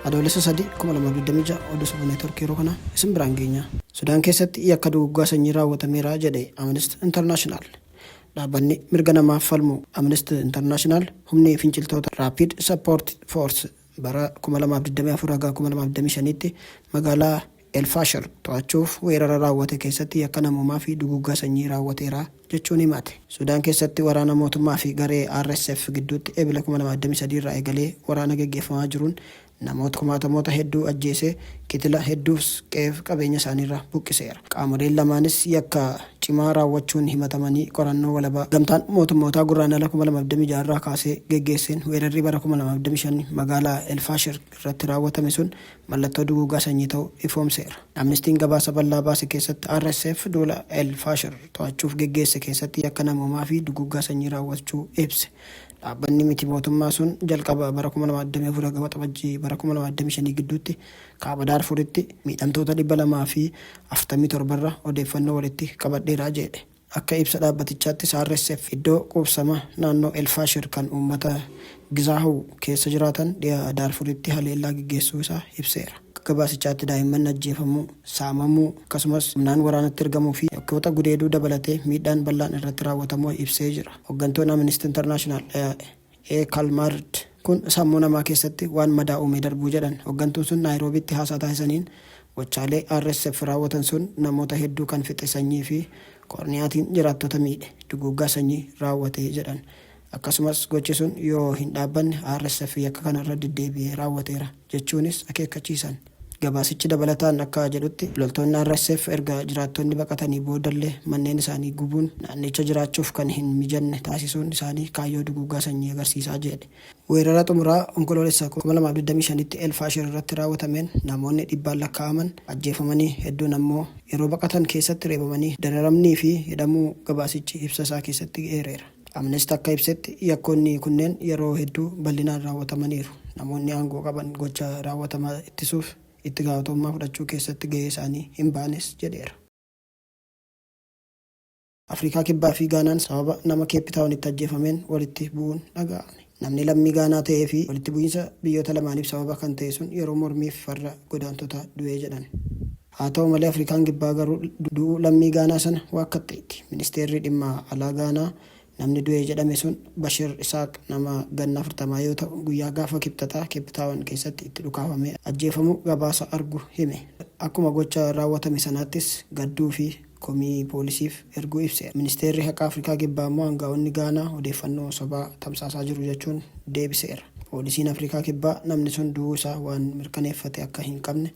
Adoolessa 3,2026 Oduu Sabaa Neetworkii yeroo kana isin biraan geenya. Sudaan keessatti yakka duguggaa sanyii raawwatameera jedhe Amnesty International. Dhaabbanni mirga namaaf falmu Amnesty International humni finciltoota Rapid Support Force Bara 2024-2025tti magaalaa El Faashar to'achuuf weerara raawwate keessatti yakka namoomaa fi duguuggaa sanyii raawwateera jechuun himate. Sudaan keessatti waraana mootummaa fi garee RSF gidduutti Ebila 2023 irraa eegalee waraana geggeeffamaa jiruun namoota kumaatamoota hedduu ajjeesee kitila hedduus qe'eef qabeenya isaaniirraa buqqiseera. Qaamoleen lamaanis yakka. cimaa raawwachuun himatamanii qorannoo walabaa Gamtaan Mootummootaa Gurraandhala 2026 irraa kaasee geggeesseen weerarri bara 2025 magaalaa El Faashir irratti raawwatame sun mallattoo duguugaa sanyii ta'u ifoomseera. Amnistiin gabaasa bal'aa baase keessatti RSF duula El Faashir to'achuuf geggeesse keessatti yakka namoomaa fi duguugaa sanyii raawwachuu ibse. Dhaabbanni miti mootummaa sun jalqaba bara 2024 haga Waxabajjii bara 2025 gidduutti Kaaba Daarfuritti miidhamtoota 247 irra odeeffannoo walitti qabadheera jeedhe. Akka ibsa dhaabbatichaattis RSF iddoo quubsama naannoo El Faashir kan uummata Gizaahuw keessa jiraatan dhiha Daarfuritti haleellaa geggeessuu isaa ibseera. Akka gabaasichaatti daa'imman ajjeefamuu, saamamuu, akkasumas humnaan waraanatti ergamuu fi yakkoota gudeeduu dabalatee miidhaan bal'aan irratti raawwatamuu ibsee jira. Hoggantoon Amnesty International, A. Kalmard, Kun sammuu namaa keessatti waan madaa uumee darbuu jedhan. Hoggantuun sun Naayiroobiitti haasaa taasisaniin, gochaalee RSF raawwatan sun namoota hedduu kan fixe sanyii fi koorniyaatiin jiraattota miidhe, duguuggaa sanyii raawwate jedhan. Akkasumas gochi sun yoo hin dhaabbanne RSF yakka kanarra deddeebi'ee raawwateera jechuunis akeekkachiisan. Gabaasichi dabalataan akka jedhutti, loltoonni RSF erga jiraattonni baqatanii boodallee manneen isaanii gubuun naannicha jiraachuuf kan hin mijanne taasisuun isaanii kaayyoo duguuggaa sanyii agarsiisa jedhe. Weerara xumuraa Onkoloolessa 2025tti El Faashir irratti raawwatameen namoonni dhibbaan lakkaa'aman ajjeefamanii hedduun ammoo yeroo baqatan keessatti reebamanii dararamnii fi hidhamuu gabaasichi ibsa isaa keessatti eereera. Amnesty akka ibsetti, yakkoonni kunneen yeroo hedduu bal'inaan raawwatamaniiru. Namoonni aangoo qaban gocha raawwatamaa ittisuuf itti gaafatamummaa fudhachuu keessatti gahee isaanii hin baanes jedheera. Afrikaa Kibbaa fi Gaanaan sababa nama Keeppi Taawunitti ajjeefameen walitti bu'uun dhaga'ame. Namni lammii Gaanaa ta'ee fi walitti bu'iinsa biyyoota lamaaniif sababa kan ta'e sun yeroo mormiif farra godaantotaa du'e jedhan. Haa ta'u malee Afrikaan Kibbaa garuu du'uu lammii Gaanaa sana waakkatteetti. Ministeerri dhimma alaa Gaanaa namni du'e jedhame sun Bashir Isaaq nama ganna 40 yoo ta'u guyyaa gaafa Kibxataa Keep Taawan keessatti itti dhukaafamee ajjeefamuu gabaasa argu hime. Akkuma gocha raawwatame sanaattis gadduu fi komii poolisiif erguu ibseera. Ministeerri haqaa Afrikaa Kibbaa ammoo aanga'oonni Gaanaa odeeffannoo sobaa tamsaasaa jiru jechuun deebiseera. Poolisiin Afrikaa Kibbaa namni sun du'uu isaa waan mirkaneeffate akka hin qabne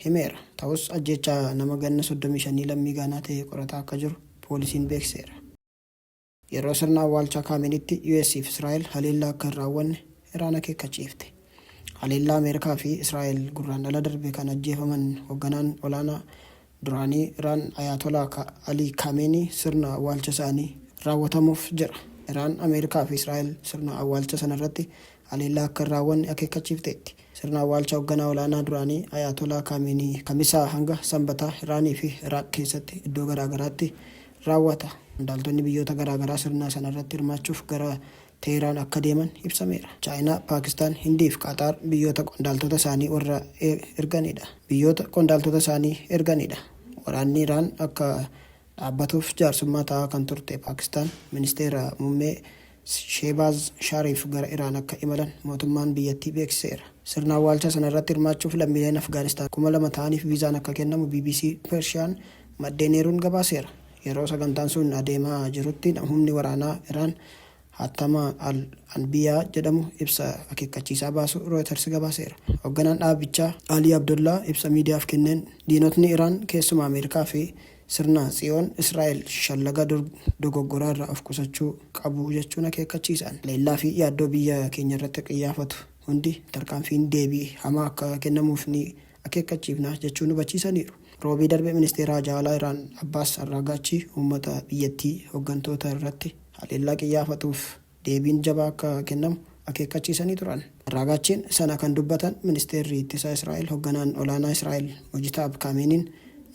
himeera. Ta'us ajjeechaa nama ganna 35 lammii Gaanaa ta'ee qorataa akka jiru poolisiin beeksiseera. Yeroo sirna awwaalchaa Kaameeniitti US fi Israa'el haleellaa akka hin raawwanne Iraan akeekkachiifte. Haleellaa Ameerikaa fi Israa'el Gurraandhala darbe kan ajjeefaman hogganaan olaanaa duraanii Iraan Ayaatolaa Alii Kaameenii sirna awwaalcha isaanii raawwatamuuf jira. Iraan, Ameerikaa fi Israa'el sirna awwaalcha sanarratti haleellaa akka hin raawwanne akeekkachiifteetti. Sirna awwaalcha hogganaa olaanaa duraanii Ayaatolaa Kaameenihii Kamisaa hanga Sanbataa Iraanii fi Iraaq keessatti iddoo garaa garaatti raawwata. Qondaaltonni biyyoota garaa garaa sirna sana irratti hirmaachuuf gara Teehraan akka deeman ibsameera. Chaayinaa, Paakistaan, Hindii fi Qaxaar biyyoota qondaaltota isaanii warra erganidha. Biyyoota qondaaltota isaanii erganidha. Waraanni Iraan akka dhaabbatuuf jaarsummaa ta'aa kan turte Paakistaan Ministeera Mummee Sheebaaz Shaariif gara Iraan akka imalan mootummaan biyyattii beeksiseera. Sirna awwaalchaa sana irratti hirmaachuuf lammiileen Afgaanistaan 2,000 ta'aniif viizaan akka kennamu bbc Persian maddeen eeruun gabaaseera. Yeroo sagantaan sun adeemaa jirutti humni waraanaa Iraan hatattamaa Al Anbiyaa jedhamu ibsa akeekkachiisaa baasuu Rooyiters gabaaseera. Hogganaan dhaabichaa Alii Abdollaa ibsa miidiyaaf kenneen, diinotni Iraan keessumaa Ameerikaa fi sirna Tsiyoon Israa'el shallaga dur dogoggoraa irraa of qusachuu qabu jechuun akeekkachiisan. Haleellaa fi yaaddoo biyya keenyarratti qiyyaafatu hundi tarkaanfiin deebii hamaa akka kennamuuf ni akeekkachiifna jechuun hubachiisaniiru. Roobii darbe Ministeera Haajaa Alaa Iraan Abbaas Arraagaachi uummata biyyattii hoggantoota irratti haleellaa qiyyaafatuuf deebiin jabaa akka kennamu akeekkachiisanii turan. Arraagaachiin sana kan dubbatan Ministeerri Ittisa Israa'el hogganaan olaanaa Israa'el Mojitaab Kaameeniin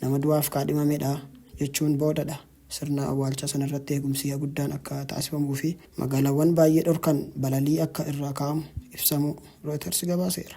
nama du'aaf kaadhimamedha jechuun boodadha. Sirna awwaalchaa sanarratti eegumsi guddaan akka taasifamuu fi magaalaawwan baay'ee dhorkan balalii akka irraa kaa'amu ibsamuu Rooyiters gabaaseera.